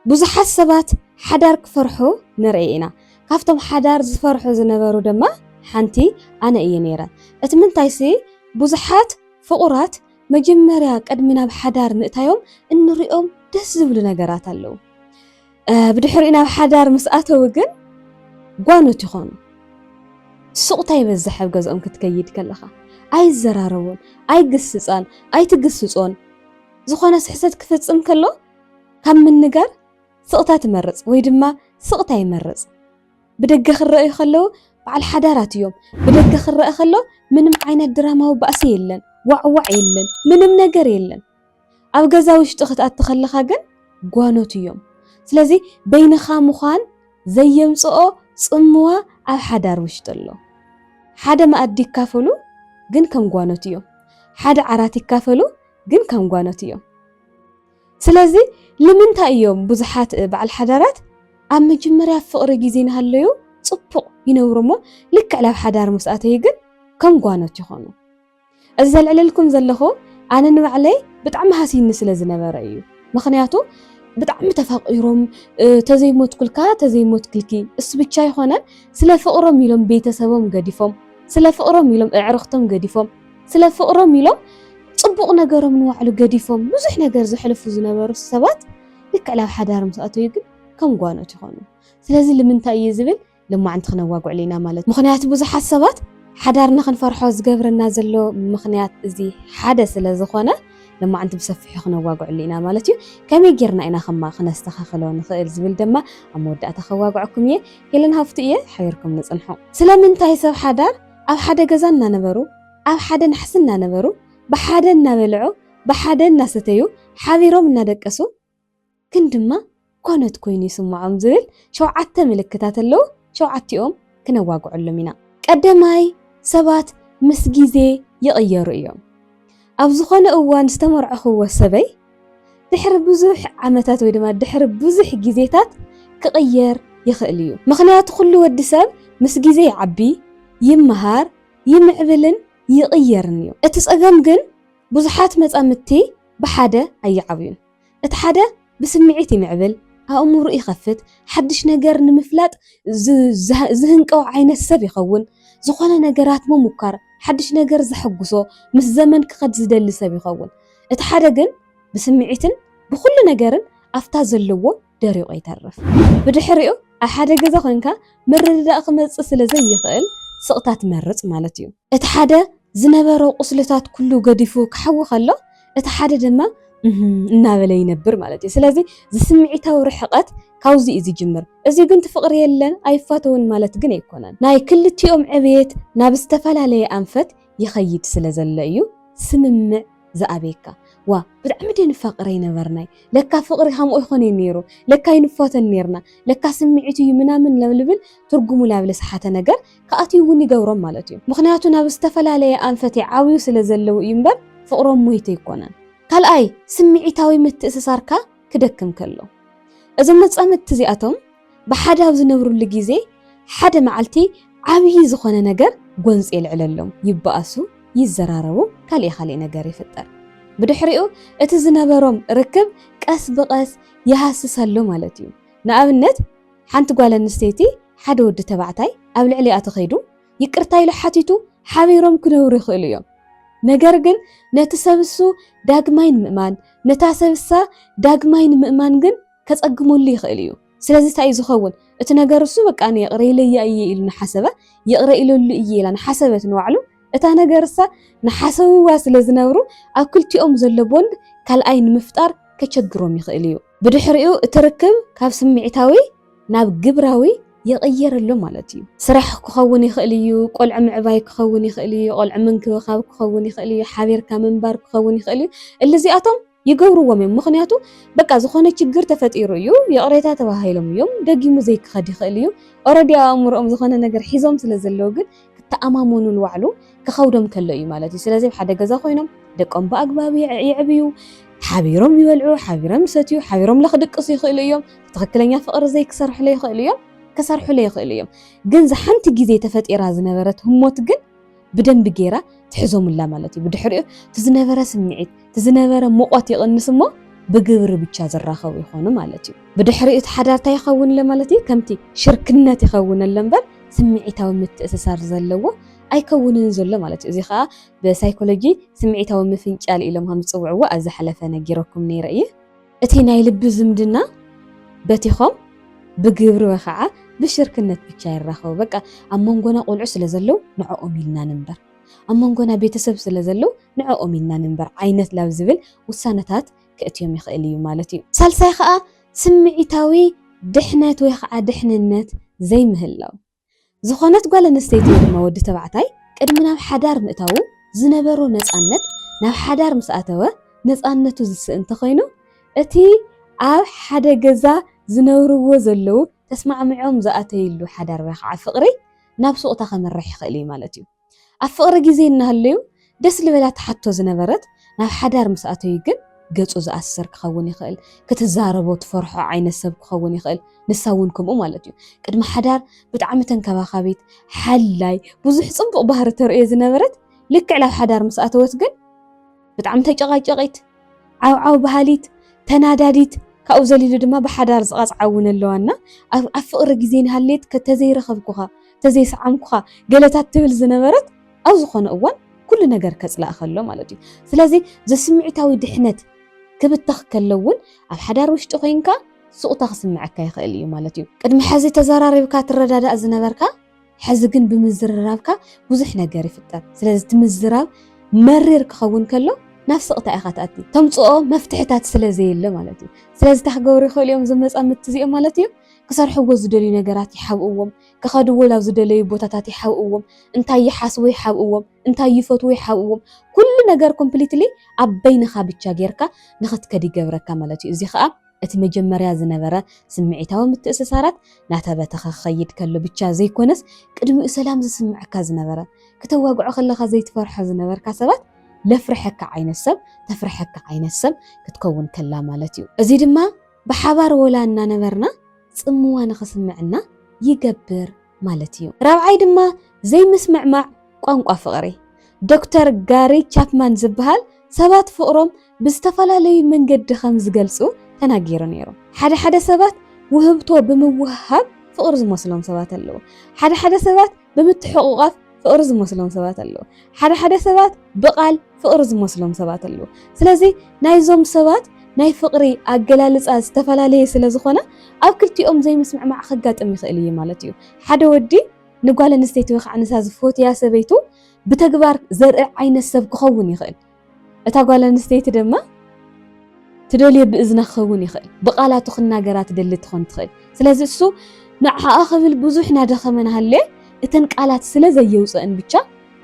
ብዙሓት ሰባት ሓዳር ክፈርሑ ንርኢ ኢና። ካብቶም ሓዳር ዝፈርሑ ዝነበሩ ድማ ሓንቲ ኣነ እየ ነይረ። እቲ ምንታይሲ ብዙሓት ፍቑራት መጀመርያ ቅድሚ ናብ ሓዳር ምእታዮም እንሪኦም ደስ ዝብሉ ነገራት ኣለው። ብድሕሪኡ ናብ ሓዳር ምስ ኣተው ግን ጓኖት ይኾኑ። ስቕታ ይበዝሕ ኣብ ገዝኦም ክትከይድ ከለኻ። ኣይዘራረቡን፣ ኣይግስጻን፣ ኣይትግስጾን። ዝኾነ ስሕተት ክፍጽም ከሎ ካብ ምንጋር ስቕታ ትመርጽ ወይ ድማ ስቕታ ይመርጽ። ብደገ ክረኣዩ ከለዉ በዓል ሓዳራት እዮም። ብደገ ክረኣ ከሎ ምንም ዓይነት ድራማዊ ባእሲ የለን፣ ዋዕዋዕ የለን፣ ምንም ነገር የለን። ኣብ ገዛ ውሽጢ ክትኣቲ ከለኻ ግን ጓኖት እዮም። ስለዚ በይንኻ ምዃን ዘየምጽኦ ጽምዋ ኣብ ሓዳር ውሽጢ ኣሎ። ሓደ መኣዲ ይካፈሉ ግን ከም ጓኖት እዮም። ሓደ ዓራት ይካፈሉ ግን ከም ጓኖት እዮም። ስለዚ ልምንታይ እዮም ብዙሓት በዓል ሓዳራት ኣብ መጀመርያ ፍቕሪ ግዜ ናሃለዩ ጽቡቕ ይነብሩ እሞ ልክዕ ላብ ሓዳር ምስ ኣተዩ ግን ከም ጓኖት ይኾኑ እዚ ዘልዕለልኩም ዘለኹ ኣነ ንባዕለይ ብጣዕሚ ሃስይኒ ስለ ዝነበረ እዩ ምኽንያቱ ብጣዕሚ ተፋቒሮም ተዘይ ሞትኩልካ ተዘይ ሞትክልኪ እሱ ብቻ ኣይኾነን ስለ ፍቕሮም ኢሎም ቤተሰቦም ገዲፎም ስለ ፍቕሮም ኢሎም እዕርኽቶም ገዲፎም ስለ ፍቕሮም ኢሎም ፅቡቕ ነገሮም ንባዕሉ ገዲፎም ብዙሕ ነገር ዘሕልፉ ዝነበሩ ሰባት ልክዕ ናብ ሓዳር ምስ ኣተዩ ግን ከም ጓኖት ይኾኑ። ስለዚ ልምንታይ እዩ ዝብል ልማዕንቲ ክነዋግዕሉ ኢና ማለት ምኽንያቱ ብዙሓት ሰባት ሓዳር ንኽንፈርሖ ዝገብረና ዘሎ ምኽንያት እዚ ሓደ ስለ ዝኾነ ልማዕንቲ ብሰፊሑ ክነዋግዕሉ ኢና ማለት እዩ። ከመይ ጌርና ኢና ከማ ክነስተኻኽሎ ንኽእል ዝብል ደማ ኣብ መወዳእታ ከዋግዐኩም እየ። ሄለን ሃፍቱ እየ፣ ሓቢርኩም ንፅንሑ። ስለምንታይ ሰብ ሓዳር ኣብ ሓደ ገዛ እናነበሩ፣ ኣብ ሓደ ናሕሲ እናነበሩ፣ ብሓደ እናበልዑ፣ ብሓደ እናሰተዩ፣ ሓቢሮም እናደቀሱ፣ ግን ድማ ኰነት ኰይኑ ይስምዖም ዝብል ሸውዓተ ምልክታት ኣለዉ፣ ሸውዓቲኦም ክነዋግዐሎም ኢና። ቀዳማይ፣ ሰባት ምስ ግዜ ይቕየሩ እዮም። ኣብ ዝዀነ እዋን ዝተመርዐኹዎ ሰበይ፣ ድሕሪ ብዙሕ ዓመታት ወይ ድማ ድሕሪ ብዙሕ ግዜታት ክቕየር ይኽእል እዩ። ምኽንያቱ ኩሉ ወዲ ሰብ ምስ ግዜ ይዓቢ፣ ይመሃር፣ ይምዕብልን ይቕየርን እዩ። እቲ ጸገም ግን ብዙሓት መጻምድቲ ብሓደ ኣይዓብዩን። እቲ ሓደ ብስምዒት ይምዕብል፣ ኣእምሩኡ ይኸፍት፣ ሓድሽ ነገር ንምፍላጥ ዝህንቀው ዓይነት ሰብ ይኸውን። ዝኾነ ነገራት ምሙኳር፣ ሓድሽ ነገር ዘሐጉሶ፣ ምስ ዘመን ክኸድ ዝደሊ ሰብ ይኸውን። እቲ ሓደ ግን ብስምዒትን ብኹሉ ነገርን ኣፍታ ዘለዎ ደሪቑ ይተርፍ። ብድሕሪኡ ኣብ ሓደ ገዛ ኮንካ ምርድዳእ ክመጽእ ስለ ዘይኽእል ስቕታ ትመርጽ ማለት እዩ። እቲ ሓደ ዝነበሮ ቁስልታት ኩሉ ገዲፉ ክሓዊ ከሎ እቲ ሓደ ድማ እህም እናበለ ይነብር ማለት እዩ። ስለዚ ዝስምዒታዊ ርሕቐት ካብዚ እዩ ዝጅምር። እዚ ግን ትፍቕሪ የለን ኣይፋተውን ማለት ግን ኣይኮነን። ናይ ክልቲኦም ዕብየት ናብ ዝተፈላለየ ኣንፈት ይኸይድ ስለ ዘሎ እዩ ስምምዕ ዝኣብየካ ዋእ ብጣዕሚ ድየ ንፋቅር ኣይነበርናይ ለካ ፍቅሪ ከምኡ ኣይኮነይ ነይሩ ለካ ኣይንፋቶን ነይርና ለካ ስምዒት እዩ ምናምን ልብል ትርጉሙ ላብ ልስሓተ ነገር ክኣትዩ እውን ይገብሮም ማለት እዩ ምክንያቱ ናብ ዝተፈላለየ ኣንፈት ይዓብዩ ስለ ዘለው እዩ እምበር ፍቅሮም ሞይቱ ኣይኮነን ካልኣይ ስምዒታዊ ምትእስሳርካ ክደክም ከሎ እዞም መጻምድቲ እዚኣቶም ብሓደ ኣብ ዝነብሩሉ ግዜ ሓደ መዓልቲ ዓብዪ ዝኾነ ነገር ጎንፂ የልዕለሎም፣ ይበኣሱ፣ ይዘራረቡ፣ ካሊእ ካሊእ ነገር ይፍጠር። ብድሕሪኡ እቲ ዝነበሮም ርክብ ቀስ ብቐስ ይሃስሰሉ ማለት እዩ። ንኣብነት ሓንቲ ጓል ኣንስተይቲ ሓደ ወዲ ተባዕታይ ኣብ ልዕሊኣ ተኸይዱ ይቅርታ ኢሉ ሓቲቱ ሓቢሮም ክነብሩ ይኽእሉ እዮም። ነገር ግን ነቲ ሰብሱ ዳግማይ ንምእማን ነታ ሰብሳ ዳግማይ ንምእማን ግን ከጸግመሉ ይኽእል እዩ። ስለዚ ታይ እዩ ዝኸውን እቲ ነገር እሱ በቃ ኣነ ይቕረ ኢለያ እየ ኢሉ ንሓሰበ ይቕረ ኢለሉ እየ ኢላ ንሓሰበት ንባዕሉ እታ ነገር እሳ ንሓሰብዋ ስለ ዝነብሩ ኣብ ክልቲኦም ዘሎ ቦንድ ካልኣይ ንምፍጣር ከቸግሮም ይኽእል እዩ። ብድሕሪኡ እቲ ርክብ ካብ ስምዒታዊ ናብ ግብራዊ ይቕየር ኣሎ ማለት እዩ። ስራሕ ክኸውን ይኽእል እዩ፣ ቆልዑ ምዕባይ ክኸውን ይኽእል እዩ፣ ቆልዑ ምንክብኻብ ክኸውን ይኽእል እዩ፣ ሓቢርካ ምንባር ክኸውን ይኽእል እዩ፣ እሊ እዚኣቶም ይገብርዎም እዮም ምኽንያቱ በቃ ዝኾነ ችግር ተፈጢሩ እዩ ይቕሬታ ተባሂሎም እዮም ደጊሙ ዘይክኸድ ይኽእል እዩ ኦረዲ ኣብ ኣእምሮኦም ዝኾነ ነገር ሒዞም ስለ ዘለዉ ግን ክተኣማመኑሉ ዋዕሉ ክኸብዶም ከሎ እዩ ማለት እዩ ስለዚ ኣብ ሓደ ገዛ ኮይኖም ደቆም ብኣግባብ የዕብዩ ሓቢሮም ይበልዑ ሓቢሮም ይሰትዩ ሓቢሮም ለክድቅሱ ይኽእሉ እዮም ትኽክለኛ ፍቕሪ ዘይክሰርሑለ ይኽእሉ እዮም ክሰርሑለ ይኽእሉ እዮም ግን ዝሓንቲ ግዜ ተፈጢራ ዝነበረት ህሞት ግን ብደንቢ ገይራ ትሕዞምላ ማለት እዩ። ብድሕሪኡ እቲ ዝነበረ ስምዒት እቲ ዝነበረ ሙቆት ይቕንስ እሞ ብግብሪ ብቻ ዝራኸቡ ይኾኑ ማለት እዩ። ብድሕሪኡ እቲ ሓዳር እንታይ ይኸውን ኣሎ ማለት እዩ? ከምቲ ሽርክነት ይኸውን ኣሎ እምበር ስምዒታዊ ምትእስሳር ዘለዎ ኣይከውንን ዘሎ ማለት እዩ። እዚ ከዓ ብሳይኮሎጂ ስምዒታዊ ምፍንጫል ኢሎም ከም ዝፅውዕዎ ኣብ ዝሓለፈ ነጊረኩም ነይረ እየ። እቲ ናይ ልቢ ዝምድና በቲኾም ብግብሪ ወይ ኸዓ ብሽርክነት ብቻ ይራኸቡ። በቃ ኣብ መንጎና ቆልዑ ስለ ዘለው ንዕኦም ኢልና ንንበር፣ ኣብ መንጎና ቤተሰብ ስለ ዘለው ንዕኦም ኢልና ንንበር ዓይነት ላብ ዝብል ውሳነታት ከእትዮም ይኽእል እዩ ማለት እዩ። ሳልሳይ ኸዓ ስምዒታዊ ድሕነት ወይ ኸዓ ድሕንነት ዘይምህላው። ዝኾነት ጓል ኣንስተይቲ ወይ ድማ ወዲ ተባዕታይ ቅድሚ ናብ ሓዳር ምእታዉ ዝነበሮ ነፃነት ናብ ሓዳር ምስ ኣተወ ነፃነቱ ዝስእን እንተኾይኑ እቲ ኣብ ሓደ ገዛ ዝነብርዎ ዘለዉ ተስማዕሚዖም ዝኣተይሉ ሓዳር ወይ ኻዓ ፍቕሪ ናብ ሱቕታ ከምርሕ ይኽእል እዩ ማለት እዩ። ኣብ ፍቕሪ ግዜ እናሃለዩ ደስ ልበላ ትሓቶ ዝነበረት ናብ ሓዳር ምስ ኣተዩ ግን ገጹ ዝኣስር ክኸውን ይኽእል፣ ክትዛረቦ ትፈርሖ ዓይነት ሰብ ክኸውን ይኽእል፣ ንሳ እውን ከምኡ ማለት እዩ። ቅድሚ ሓዳር ብጣዕሚ ተንከባኻቢት፣ ሓላይ፣ ብዙሕ ጽቡቕ ባህሪ ተርእዮ ዝነበረት ልክዕ ላብ ሓዳር ምስ ኣተወት ግን፣ ብጣዕሚ ተጨቓጨቒት፣ ዓውዓው በሃሊት፣ ተናዳዲት፣ ካብኡ ዘሊሉ ድማ ብሓዳር ዝቐጽዓ እውን ኣለዋ እና ኣብ ኣብ ፍቕሪ ግዜ እንሃለየት ከተዘይረኸብኩኻ፣ ተዘይሰዓምኩኻ ገለታት ትብል ዝነበረት ኣብ ዝኾነ እዋን ኩሉ ነገር ከጽላእ ከሎ ማለት እዩ። ስለዚ ዘስምዒታዊ ድሕነት ክብተኽ ከሎ እውን ኣብ ሓዳር ውሽጢ ኮይንካ ሱቕታ ክስምዐካ ይኽእል እዩ ማለት እዩ። ቅድሚ ሕዚ ተዘራሪብካ ትረዳዳእ ዝነበርካ፣ ሕዚ ግን ብምዝርራብካ ብዙሕ ነገር ይፍጠር ስለዚ እቲ ምዝራብ መሪር ክኸውን ከሎ ናብ ስቕታ ኢኻ ትኣቲ ተምፅኦ መፍትሕታት ስለ ዘየለ ማለት እዩ ስለዚ እንታይ ክገብሩ ይኽእሉ እዮም እዞም መፃምድቲ እዚኦም ማለት እዩ ክሰርሕዎ ዝደልዩ ነገራት ይሓብእዎም ክኸድዎ ናብ ዝደለዩ ቦታታት ይሓብእዎም እንታይ ይሓስቡ ይሓብእዎም እንታይ ይፈትዉ ይሓብእዎም ኩሉ ነገር ኮምፕሊትሊ ኣብ በይንኻ ብቻ ጌርካ ንኽትከድ ይገብረካ ማለት እዩ እዚ ከዓ እቲ መጀመርያ ዝነበረ ስምዒታዊ ምትእስሳራት ናተበተኸ ክኸይድ ከሎ ብቻ ዘይኮነስ ቅድሚኡ ሰላም ዝስምዐካ ዝነበረ ክተዋግዖ ከለኻ ዘይትፈርሖ ዝነበርካ ሰባት ለፍርሐካ ዓይነት ሰብ ተፍርሐካ ዓይነት ሰብ ክትከውን ከላ ማለት እዩ። እዚ ድማ ብሓባር ወላ እናነበርና ፅምዋ ንኽስምዕና ይገብር። ማለት እዩ። ራብዓይ ድማ ዘይምስምዕማዕ ቋንቋ ፍቕሪ። ዶክተር ጋሪ ቻፕማን ዝበሃል ሰባት ፍቕሮም ብዝተፈላለዩ መንገዲ ከም ዝገልጹ ተናጊሩ ነይሩ። ሓደ ሓደ ሰባት ውህብቶ ብምውህሃብ ፍቕሪ ዝመስሎም ሰባት ኣለዉ። ሓደ ሓደ ሰባት ብምትሕቑቛፍ ፍቕሪ ዝመስሎም ሰባት ኣለዉ። ሓደ ሓደ ሰባት ብቓል ፍቕሪ ዝመስሎም ሰባት ኣለዉ። ስለዚ ናይዞም ሰባት ናይ ፍቕሪ ኣገላልጻ ዝተፈላለየ ስለ ዝኾነ ኣብ ክልቲኦም ዘይምስምዕማዕ ከጋጥም ይኽእል እዩ ማለት እዩ። ሓደ ወዲ ንጓል ኣንስተይቲ ወይ ከዓ ንሳ ዝፈትያ ሰበይቱ ብተግባር ዘርኢ ዓይነት ሰብ ክኸውን ይኽእል። እታ ጓል ኣንስተይቲ ድማ ትደልዮ ብእዝና ክኸውን ይኽእል፣ ብቓላቱ ክናገራ ትደሊ ትኾን ትኽእል። ስለዚ እሱ ንዓኣ ክብል ብዙሕ ናደኸመ ናሃለየ እተን ቃላት ስለ ዘየውጸእን ብቻ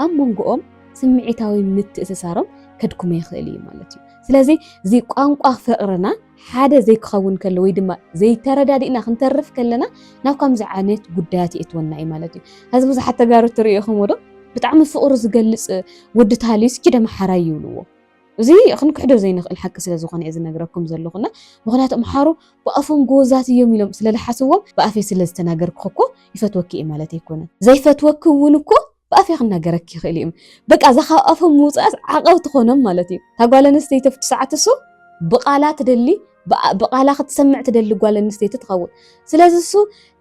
ኣብ መንጎኦም ስምዒታዊ ምትእስሳሮም ከድክሞ ይኽእል እዩ ማለት እዩ። ስለዚ እዚ ቋንቋ ፍቕርና ሓደ ዘይክኸውን ከሎ ወይ ድማ ዘይተረዳዲእና ክንተርፍ ከለና ናብ ከምዚ ዓይነት ጉዳያት የእትወና እዩ ማለት እዩ። ሐዚ ብዙሓት ተጋሩ እትርእይኹምዎ ዶ ብጣዕሚ ፍቕሩ ዝገልፅ ወዲ ታህሊ እስኪ ኪድ ኣምሓራይ ይብልዎ። እዚ ክንክሕዶ ዘይንኽእል ሓቂ ስለ ዝኾነ እየ ዝነግረኩም ዘለኹ እና ምኽንያቱ ኣምሓሩ ብኣፎም ጎወዛት እዮም ኢሎም ስለ ልሓስዎም ብኣፈይ ስለ ዝተናገርኩኺ እኮ ይፈትወኪ እየ ማለት ኣይኮነን ዘይፈትወኪ እውን እኮ ብኣፌ ክናገረኪ ይኽእል እዩ በቃ እዛ ካብ ኣፎም ምውፃእስ ዓቐብ ትኾኖም ማለት እዩ እታ ጓል ኣንስተይቲ ኣብቲ ሰዓት እሱ ብቓላ ትደሊ ብቓላ ክትሰምዕ ትደሊ ጓል ኣንስተይቲ ትኸውን ስለዚ እሱ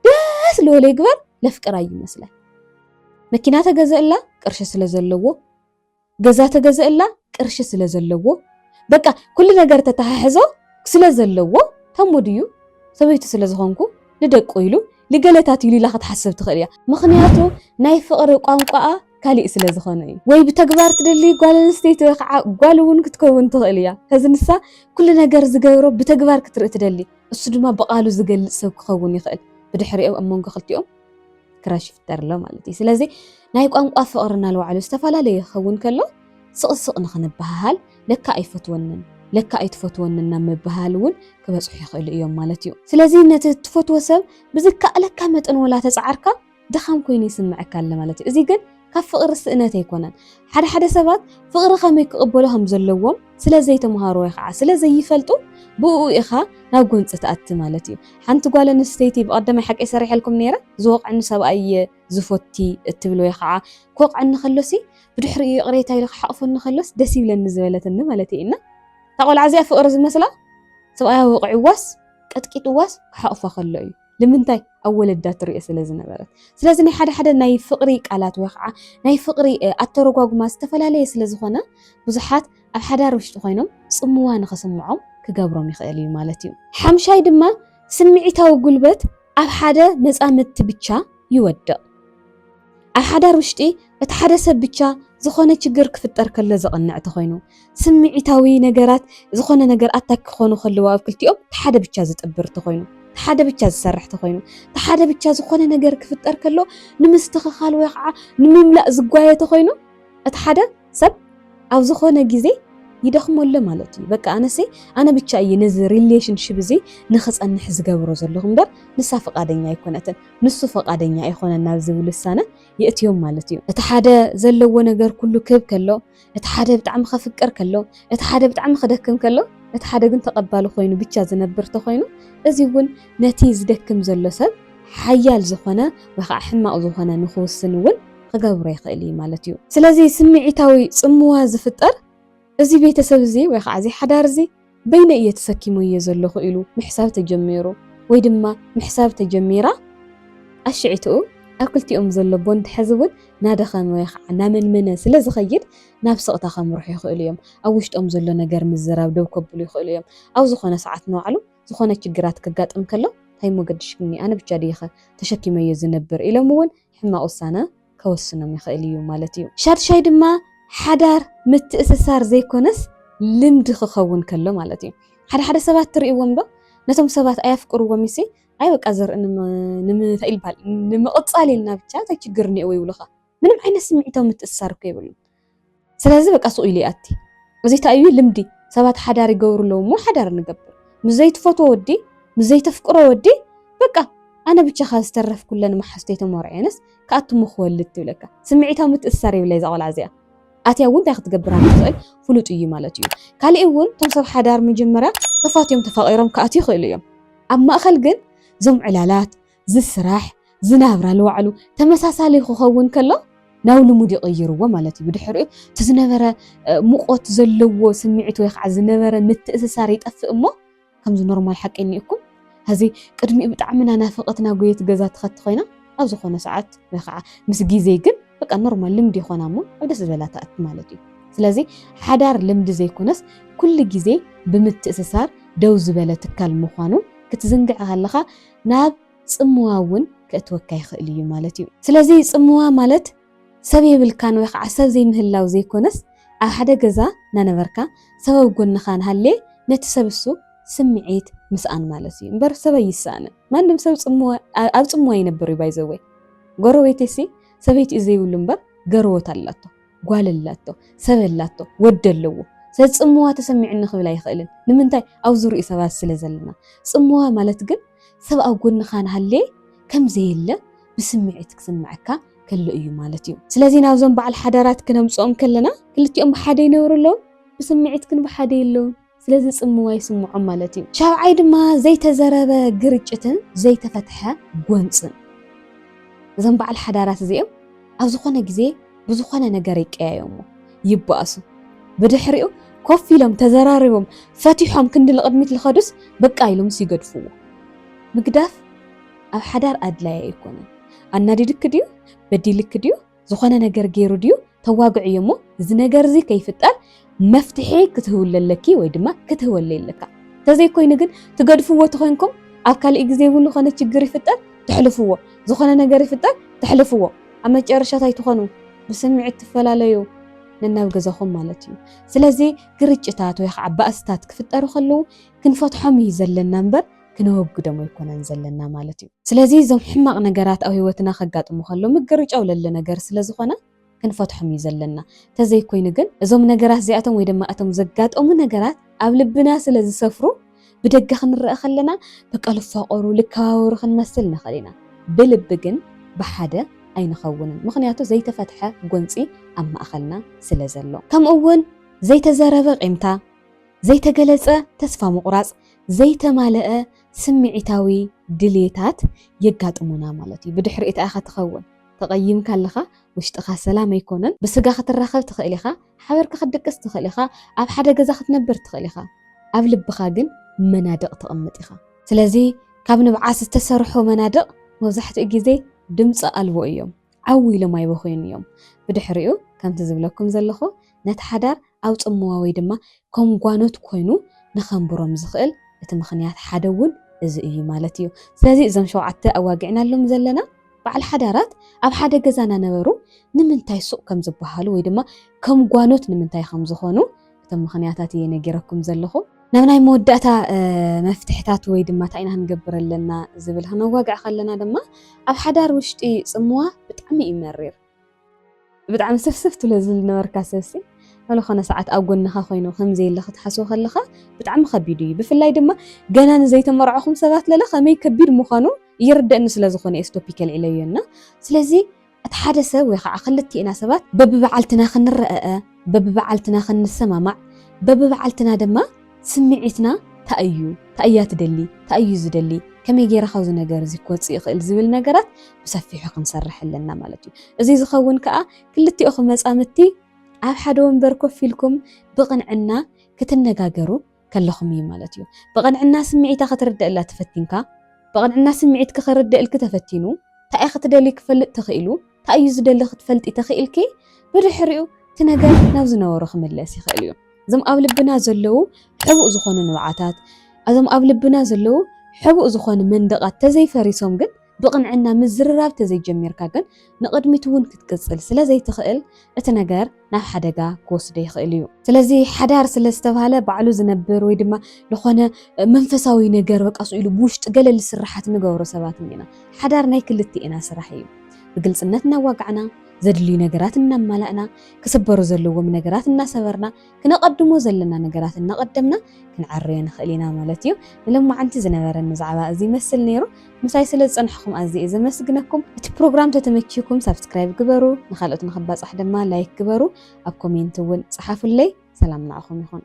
ደስ ልበሎ ይግበር ለፍቅራ ይመስላል መኪና ተገዘእላ ቅርሺ ስለ ዘለዎ ገዛ ተገዘእላ ቅርሺ ስለ ዘለዎ በቃ ኩሉ ነገር ተታሓሕዞ ስለ ዘለዎ ከሙ ድዩ ሰበይቱ ስለ ዝኮንኩ ንደቁ ኢሉ ልገለታት ኢሉ ኢላ ክትሓስብ ትክእል እያ ምክንያቱ ናይ ፍቅሪ ቋንቋኣ ካሊእ ስለ ዝኮነ እዩ ወይ ብተግባር ትደሊ ጓል ኣንስተይቲ ወይ ከዓ ጓል እውን ክትከውን ትክእል እያ ከዚ ንሳ ኩሉ ነገር ዝገብሮ ብተግባር ክትርኢ ትደሊ እሱ ድማ ብቃሉ ዝገልፅ ሰብ ክከውን ይክእል ብድሕሪኦም ኣብ መንጎ ክልቲኦም ክራሽ ይፍጠር ኣሎ ማለት እዩ ስለዚ ናይ ቋንቋ ፍቕሪ እናልባዕሉ ዝተፈላለዩ ክኸውን ከሎ ስቕስቕ ንኽንበሃሃል ለካ ኣይፈትወንን ለካ ኣይትፈትወንን ናብ ምበሃል እውን ክበፅሑ ይኽእሉ እዮም ማለት እዩ ስለዚ ነቲ ትፈትዎ ሰብ ብዝከኣለካ መጠን ወላ ተፃዓርካ ድኻም ኮይኑ ይስምዐካ ኣሎ ማለት እዩ እዚ ግን ካብ ፍቕሪ ስእነት ኣይኮነን። ሓደ ሓደ ሰባት ፍቕሪ ከመይ ክቕበሉ ከም ዘለዎም ስለ ዘይተምሃሩ ወይ ኸዓ ስለ ዘይፈልጡ ብእኡ ኢኻ ናብ ጎንፂ ትኣቲ ማለት እዩ። ሓንቲ ጓል ኣንስተይቲ ብቐደማይ ሓቀይ ሰሪሐልኩም ነይረ ዝወቕዐኒ ሰብኣይ እየ ዝፎቲ እትብል ወይ ኸዓ ክወቕዐኒ ከሎሲ ብድሕሪኡ ይቕሬታ ኢሉ ክሓቕፈኒ ከሎስ ደስ ይብለኒ ዝበለትኒ ማለት እየ እና እታ ቆልዓ እዚኣ ፍቕሪ ዝመስላ ሰብኣያ ወቒዕዋስ ቀጥቂጥዋስ ክሓቕፋ ከሎ እዩ። ንምንታይ ኣብ ወለዳ ትርኦ ስለ ዝነበረት ስለዚ ናይ ሓደ ሓደ ናይ ፍቕሪ ቃላት ወይ ከዓ ናይ ፍቕሪ ኣተረጓጉማ ዝተፈላለየ ስለ ዝኾነ ብዙሓት ኣብ ሓዳር ውሽጢ ኮይኖም ጽምዋ ንኽስምዖም ክገብሮም ይኽእል እዩ ማለት እዩ። ሓምሻይ ድማ ስምዒታዊ ጉልበት ኣብ ሓደ መጻምድቲ ብቻ ይወድቕ። ኣብ ሓዳር ውሽጢ እቲ ሓደ ሰብ ብቻ ዝኾነ ችግር ክፍጠር ከሎ ዘቕንዕ ተኾይኑ፣ ስምዒታዊ ነገራት ዝኾነ ነገር ኣታክ ክኾኑ ከለዎ ኣብ ክልቲኦም እቲ ሓደ ብቻ ዝጥብር ተኾይኑ፣ እቲ ሓደ ብቻ ዝሰርሕ ተኾይኑ፣ እቲ ሓደ ብቻ ዝኾነ ነገር ክፍጠር ከሎ ንምስትኽኻል ወይ ኸዓ ንምምላእ ዝጓየ ተኾይኑ እቲ ሓደ ሰብ ኣብ ዝኾነ ግዜ ይደኽሞ ኣሎ ማለት እዩ በቃ ኣነሰይ ኣነ ብቻ እየ ነዚ ሪሌሽንሽፕ እዚ ንክፀንሕ ዝገብሮ ዘለኹ እምበር ንሳ ፈቃደኛ ኣይኮነትን ንሱ ፈቃደኛ ኣይኮነን ናብ ዝብል ውሳነ የእትዮም ማለት እዩ እቲ ሓደ ዘለዎ ነገር ኩሉ ክህብ ከሎ እቲ ሓደ ብጣዕሚ ከፍቅር ከሎ እቲ ሓደ ብጣዕሚ ክደክም ከሎ እቲ ሓደ ግን ተቐባሊ ኮይኑ ብቻ ዝነብር ተኮይኑ እዚ እውን ነቲ ዝደክም ዘሎ ሰብ ሓያል ዝኾነ ወይ ከዓ ሕማቕ ዝኾነ ንክውስን እውን ክገብሮ ይኽእል እዩ ማለት እዩ። ስለዚ ስምዒታዊ ጽምዋ ዝፍጠር እዚ ቤተሰብ እዚ ወይ ኸዓ እዚ ሓዳር እዚ በይነይ እየ ተሰኪመዮ ዘለኹ ኢሉ ምሕሳብ ተጀሚሩ ወይ ድማ ምሕሳብ ተጀሚራ ጣሽዒትኡ ኣብ ክልቲኦም ዘሎ ቦንድ ሕዚ እውን ናደኸመ ወይ ኸዓ ናመንመነ ስለ ዝኸይድ ናብ ስቕታ ከምርሑ ይኽእሉ እዮም። ኣብ ውሽጦም ዘሎ ነገር ምዝራብ ደው ከብሉ ይኽእሉ እዮም። ኣብ ዝኾነ ሰዓት ንባዕሉ ዝኾነ ችግራት ከጋጥም ከሎ ታይ እሞ ገድሽኒ ኣነ ብቻ ድየ ኸ ተሸኪመዮ ዝነብር ኢሎም እውን ሕማቕ ውሳነ ከወስኖም ይኽእል እዩ ማለት እዩ። ሻድሻይ ድማ ሓዳር ምትእስሳር ዘይኮነስ ልምዲ ክኸውን ከሎ ማለት እዩ። ሓደ ሓደ ሰባት ትርእይዎም ዶ ነቶም ሰባት ኣየፍቅርዎም እዩሲ ኣይ በቃ ዘርኢ ንምታይ ይባሃል ንምቕጻል ኢልና ብቻ እንታይ ችግር እኒኦዎ ይብሉኻ ምንም ዓይነት ስምዒታዊ ምትእስሳር እኮ የብሉን። ስለዚ በቃ ሱቕ ኢሉ ይኣቲ እዚ እንታይ እዩ ልምዲ ሰባት ሓዳር ይገብሩ ኣለዉ እሞ ሓዳር ንገብር ምስ ዘይትፈትዎ ወዲ ምስ ዘይተፍቅሮ ወዲ በቃ ኣነ ብቻኻ ዝተረፍ ኩለን መሓዝተይ ተመርዕየንስ ክኣቱ እሞ ክወልድ ትብለካ ስምዒታዊ ምትእስሳር የብላ እዛ ቆልዓ እዚኣ ኣትያ እውን እንታይ ክትገብር ትኽእል ፍሉጥ እዩ ማለት እዩ ካሊእ እውን እቶም ሰብ ሓዳር መጀመርያ ተፋትዮም ተፋቒሮም ክኣትዩ ይኽእሉ እዮም ኣብ ማእኸል ግን እዞም ዕላላት እዚ ስራሕ እዚ ናብራ ንባዕሉ ተመሳሳሊ ክኸውን ከሎ ናብ ልሙድ ይቕይርዎ ማለት እዩ። ብድሕሪኡ እቲ ዝነበረ ሙቖት ዘለዎ ስምዒት ወይ ከዓ ዝነበረ ምትእስሳር ይጠፍእ እሞ ከምዚ ኖርማል ሓቂ እኒኡኩም ሕዚ ቅድሚኡ ብጣዕሚ ናናፈቐትና ጎየት ገዛ ትኸቲ ኮይና ኣብ ዝኾነ ሰዓት ወይ ከዓ ምስ ግዜ ግን በቃ ኖርማል ልምዲ ይኾና እሞ ኣብ ደስ ዝበላ ትኣቲ ማለት እዩ። ስለዚ ሓዳር ልምዲ ዘይኮነስ ኩሉ ግዜ ብምትእስሳር ደው ዝበለ ትካል ምዃኑ ክትዝንግዕ ከለኻ ናብ ጽምዋ እውን ከእትወካ ይኽእል እዩ ማለት እዩ። ስለዚ ጽምዋ ማለት ሰብ የብልካን ወይ ኸዓ ሰብ ዘይምህላው ዘይኮነስ ኣብ ሓደ ገዛ እናነበርካ ሰብ ኣብ ጎንኻ እንሃልየ ነቲ ሰብ እሱ ስምዒት ምስኣን ማለት እዩ እምበር ሰብ ኣይስኣንን ማንም ሰብ ጽምዋ ኣብ ጽምዋ ይነብር እዩ ባይዘወይ ጎረቤተይሲ ሰበይቲኡ ዘይብሉ እምበር ገርዎት ኣላቶ ጓል ኣላቶ፣ ሰብ ኣላቶ፣ ወዲ ኣለዎ። ስለዚ ጽምዋ ተሰሚዑኒ ክብል ኣይኽእልን። ንምንታይ? ኣብ ዙርይኡ ሰባት ስለ ዘለና። ጽምዋ ማለት ግን ሰብ ኣብ ጎንኻ እንሃለየ ከም ዘየለ ብስምዒት ክስመዐካ ከሎ እዩ ማለት እዩ። ስለዚ ናብዞም በዓል ሓዳራት ክነምጽኦም ከለና ክልቲኦም ብሓደ ይነብሩ ኣለውን? ብስምዒት ግን ብሓደ የለውን። ስለዚ ጽምዋ ይስምዖም ማለት እዩ። ሻብዓይ ድማ ዘይተዘረበ ግርጭትን ዘይተፈትሐ ጎንጽን። እዞም በዓል ሓዳራት እዚኦም ኣብ ዝኾነ ግዜ ብዝኾነ ነገር ይቀያየሙ፣ ይበኣሱ። ብድሕሪኡ ኮፍ ኢሎም ተዘራሪቦም ፈቲሖም ክንዲ ንቕድሚት ልኸዱስ በቃ ኢሎምስ ይገድፍዎ። ምግዳፍ ኣብ ሓዳር ኣድላይ ኣይኮነን። ኣናዲዱኪ ድዩ? በዲሉኪ ድዩ? ዝኾነ ነገር ገይሩ ድዩ ተዋግዕዮ እሞ እዚ ነገር እዚ ከይፍጠር መፍትሒ ክትህብለ ኣለኪ ወይ ድማ ክትህበለይ ኣለካ እንተዘይኮይኑ ግን ትገድፍዎ ተኮይንኩም ኣብ ካልእ ግዜ እውን ዝኾነ ችግር ይፍጠር ተሕልፍዎ ዝኾነ ነገር ይፍጠር ተሕልፍዎ ኣብ መጨረሻ ታይ ትኾኑ ብስምዒት ትፈላለዩ ነናብ ገዛኹም ማለት እዩ ስለዚ ግርጭታት ወይ ከዓ ባእስታት ክፍጠሩ ከለዉ ክንፈትሖም እዩ ዘለና እምበር ክነወግዶም ኣይኮናን ዘለና ማለት እዩ። ስለዚ እዞም ሕማቕ ነገራት ኣብ ህይወትና ከጋጥሙ ከሎ ምግርጫው ለለ ነገር ስለ ዝኾነ ክንፈትሖም እዩ ዘለና። ተዘይኮይኑ ግን እዞም ነገራት እዚኣቶም ወይ ድማ እቶም ዘጋጠሙ ነገራት ኣብ ልብና ስለ ዝሰፍሩ ብደገ ክንረኣ ከለና በቃ ልፋቐሩ ልከባበሩ ክንመስል ንኽእል ኢና። ብልቢ ግን ብሓደ ኣይንኸውንን ምኽንያቱ ዘይተፈትሐ ጎንፂ ኣብ ማእኸልና ስለ ዘሎ። ከምኡ እውን ዘይተዘረበ ቂምታ፣ ዘይተገለፀ ተስፋ ምቑራፅ፣ ዘይተማለኣ ስምዒታዊ ድሌታት የጋጥሙና ማለት እዩ። ብድሕሪኡ ታይ ኢኻ ትኸውን? ተቐይምካ ኣለኻ፣ ውሽጥኻ ሰላም ኣይኮነን፣ ብስጋ ክትራኸብ ትኽእል ኢኻ፣ ሓበርካ ክትድቅስ ትኽእል ኢኻ፣ ኣብ ሓደ ገዛ ክትነብር ትኽእል ኢኻ፣ ኣብ ልብኻ ግን መናድቕ ተቕምጥ ኢኻ። ስለዚ ካብ ንብዓት ዝተሰርሑ መናድቕ መብዛሕትኡ ግዜ ድምጺ ኣልቦ እዮም። ዓው ኢሎም ኣይበኸዩን እዮም። ብድሕሪኡ ከምቲ ዝብለኩም ዘለኹ ነቲ ሓዳር ኣብ ጽምዋ ወይ ድማ ከም ጓኖት ኮይኑ ንኸንብሮም ዝኽእል እቲ ምኽንያት ሓደ እውን እዚ እዩ ማለት እዩ። ስለዚ እዞም ሸውዓተ ኣዋጊዕናሎም ዘለና በዓል ሓዳራት ኣብ ሓደ ገዛ እናነበሩ ንምንታይ ሱቕ ከም ዝበሃሉ ወይ ድማ ከም ጓኖት ንምንታይ ከም ዝኾኑ እቶም ምኽንያታት እየ ነጊረኩም ዘለኹ። ናብ ናይ መወዳእታ መፍትሕታት ወይ ድማ እንታይ ኢና ክንገብር ኣለና ዝብል ክነዋግዕ ከለና ድማ ኣብ ሓዳር ውሽጢ ጽምዋ ብጣዕሚ እዩ መሪር ብጣዕሚ ስፍስፍ ትብሎ ዝነበርካ ሰብሲ ሎ ኮነ ሰዓት ኣብ ጎንኻ ኮይኑ ከምዘየለ ክትሓስቦ ከለኻ ብጣዕሚ ከቢድ እዩ ብፍላይ ድማ ገና ንዘይተመርዕኹም ሰባት ለለ ከመይ ከቢድ ምዃኑ ይርደእኒ ስለዝኾነ ኤስቶፒክ ኣልዒለዮ እና ስለዚ እቲ ሓደ ሰብ ወይ ኸዓ ክልቲኤና ሰባት በብበዓልትና ክንረኣኣ፣ በብበዓልትና ክንሰማማዕ፣ በብበዓልትና ድማ ስምዒትና ታይ እዩ፣ ታይ እያ ትደሊ፣ ታይ እዩ ዝደሊ፣ ከመይ ገይረ ካብዚ ነገር እዚ ክወፅእ ይኽእል ዝብል ነገራት ብሰፊሑ ክንሰርሕ ኣለና ማለት እዩ። እዙይ ዝኸውን ከዓ ክልቲኦኹም መፃምድቲ ኣብ ሓደ ወንበር ኮፍ ኢልኩም ብቕንዕና ክትነጋገሩ፣ ከለኹም እዩ ማለት እዩ። ብቕንዕና ስምዒታ ክትርደእላ ተፈቲንካ፣ ብቕንዕና ስምዒትኪ ክርደእልኪ ተፈቲኑ፣ ታይ'የ ክትደልዪ ክፈልጥ ተኽኢሉ፣ ታይ እዩ ዝደሊ ክትፈልጢ ተኽኢልኪ፣ ብድሕሪኡ እቲ ነገር ናብ ዝነበሮ ክምለስ ይኽእል እዩ። እዞም ኣብ ልብና ዘለዉ ሕቡእ ዝኾኑ ንብዓታት፣ እዞም ኣብ ልብና ዘለዉ ሕቡእ ዝኾኑ መንደቓት ተዘይፈሪሶም ግን ብቕንዕና ምዝርራብ ተዘይጀሚርካ ግን ንቕድሚት እውን ክትቅጽል ስለ ዘይትኽእል እቲ ነገር ናብ ሓደጋ ክወስዶ ይኽእል እዩ። ስለዚ ሓዳር ስለ ዝተባህለ ባዕሉ ዝነብር ወይ ድማ ዝኾነ መንፈሳዊ ነገር በቃ ስኡ ኢሉ ብውሽጢ ገለ ልስርሓት ንገብሮ ሰባት እኒና። ሓዳር ናይ ክልቲኤና ስራሕ እዩ። ብግልጽነት እናዋጋዕና፣ ዘድልዩ ነገራት እናማላእና፣ ክስበሩ ዘለዎም ነገራት እናሰበርና፣ ክነቐድሞ ዘለና ነገራት እናቐደምና ክንዐርዮ ንኽእል ኢና ማለት እዩ። ንሎማዓንቲ ዝነበረኒ ዛዕባ እዚ ይመስል ነይሩ። ምሳይ ስለ ዝጸናሕኹም ኣዝየ እየ ዘመስግነኩም። እቲ ፕሮግራም ተተመቺዩኩም ሳብስክራይብ ግበሩ፣ ንኻልኦት ንኽባጻሕ ድማ ላይክ ግበሩ፣ ኣብ ኮሜንት እውን ጸሓፉለይ። ሰላም ንዓኹም ይኹን።